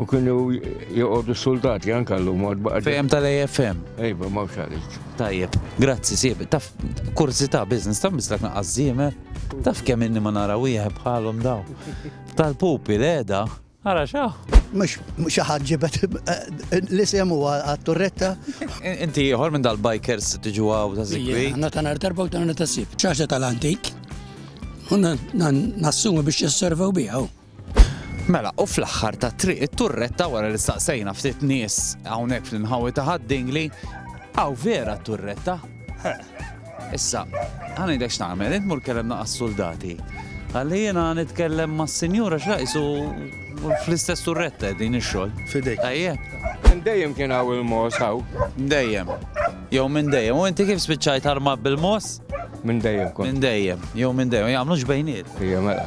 U kienu joqogħdu soldati anke llum għad baqa' Fejem tal-AFM. Ejba, ma xalit. Tajjeb, grazzi sieb. Taf kurzita biznis, taf mislak naqqas żiemer. Taf kemm inni ma nara wieħed bħalhom daw. Tal-pupi l-eda, ara xaħ. Mux xaħat ġibet eh, li semu għat-turretta. Inti ieħor minn dal-bikers tiġu għaw ta' zikwi. Għanna ta' nar darba u ta' nar ta' sib. ċaċa tal-antik. Unna nassumi biex jisservaw bijaw. Mela, u fl-aħħar ta' triq it-turretta wara li staqsejna ftit nies hawnhekk fl-inħawi ta' ħaddingli, hawn vera t-turretta. Issa, ħanidek x'nagħmel, int mur kellem naqas soldati. Għalli jiena nitkellem ma' sinjura x'raqsu fl-istess turretta din ix-xogħol. Fidejk. Ejje. Minn dejjem kien hawn il-mos hawn. Dejjem. Jew minn dejjem. U inti kif spiċċajt arma bil-mos? Minn dejjem kont. Minn dejjem. Jew minn dejjem. Jagħmlux bejniet. Ejja mela.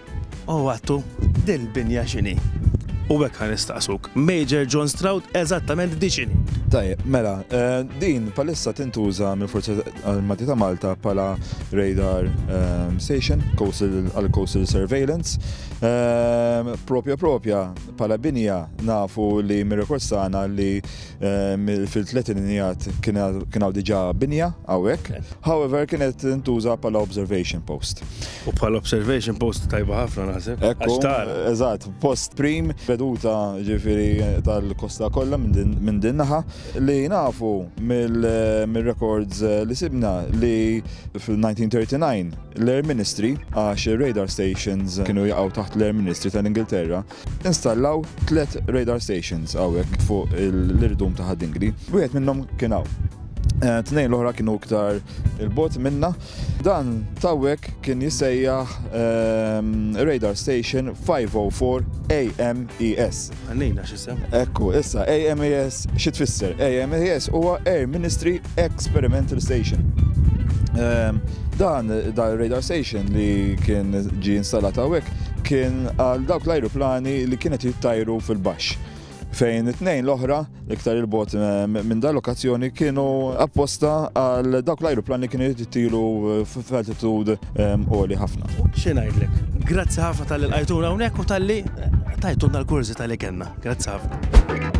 O Attu, dil binja x'inhi? U hekk ħa nistaqsuk, Major John Stroud, eżattament di x'inhi? Tajjeb, mela, din bħalissa tintuża mill-Forzi Armati ta' Malta bħala radar station għal coastal surveillance. Propja propja bħala binja nafu li mir-rekords tagħna li Fil-tletinijat kien hawn diġà binja hawnhekk. However, kienet intuża bħala observation post. U bħala observation post tajba ħafna naħseb. Ekku, eżatt, post prim, veduta ġifieri tal-kosta kollha minn din naħa li nafu mill-records li sibna li fil-1939 l-Air Ministry għax ir-radar stations kienu jaqgħu taħt l-Air Ministry tal-Ingilterra Installaw tliet radar stations hawnhekk fuq l-irdum ta' Ħad-Dingli. Wieħed minnhom kien hawn. Eh, tnejn l-oħra kienu iktar il-bot minna. Dan tawwek kien jisejjaħ ehm, Radar Station 504 AMES. Għannejna xisem? Ekku, issa AMES xi tfisser? AMES huwa Air Ministry Experimental Station. Ehm, dan da radar station li kien ġi installat hawnhekk kien għal dawk l-ajruplani li kienet jittajru fil-baxx fejn it-tnejn l-oħra, iktar il-bot eh, minn dal lokazzjoni kienu apposta għal dawk l-ajruplani kienu jittilu eh, f'altitud eh, għoli ħafna. Xinajdlek, grazzi ħafna tal-li l-għajtuna unek u tal-li tajtuna l-kurzi tal-li kena. Grazzi ħafna.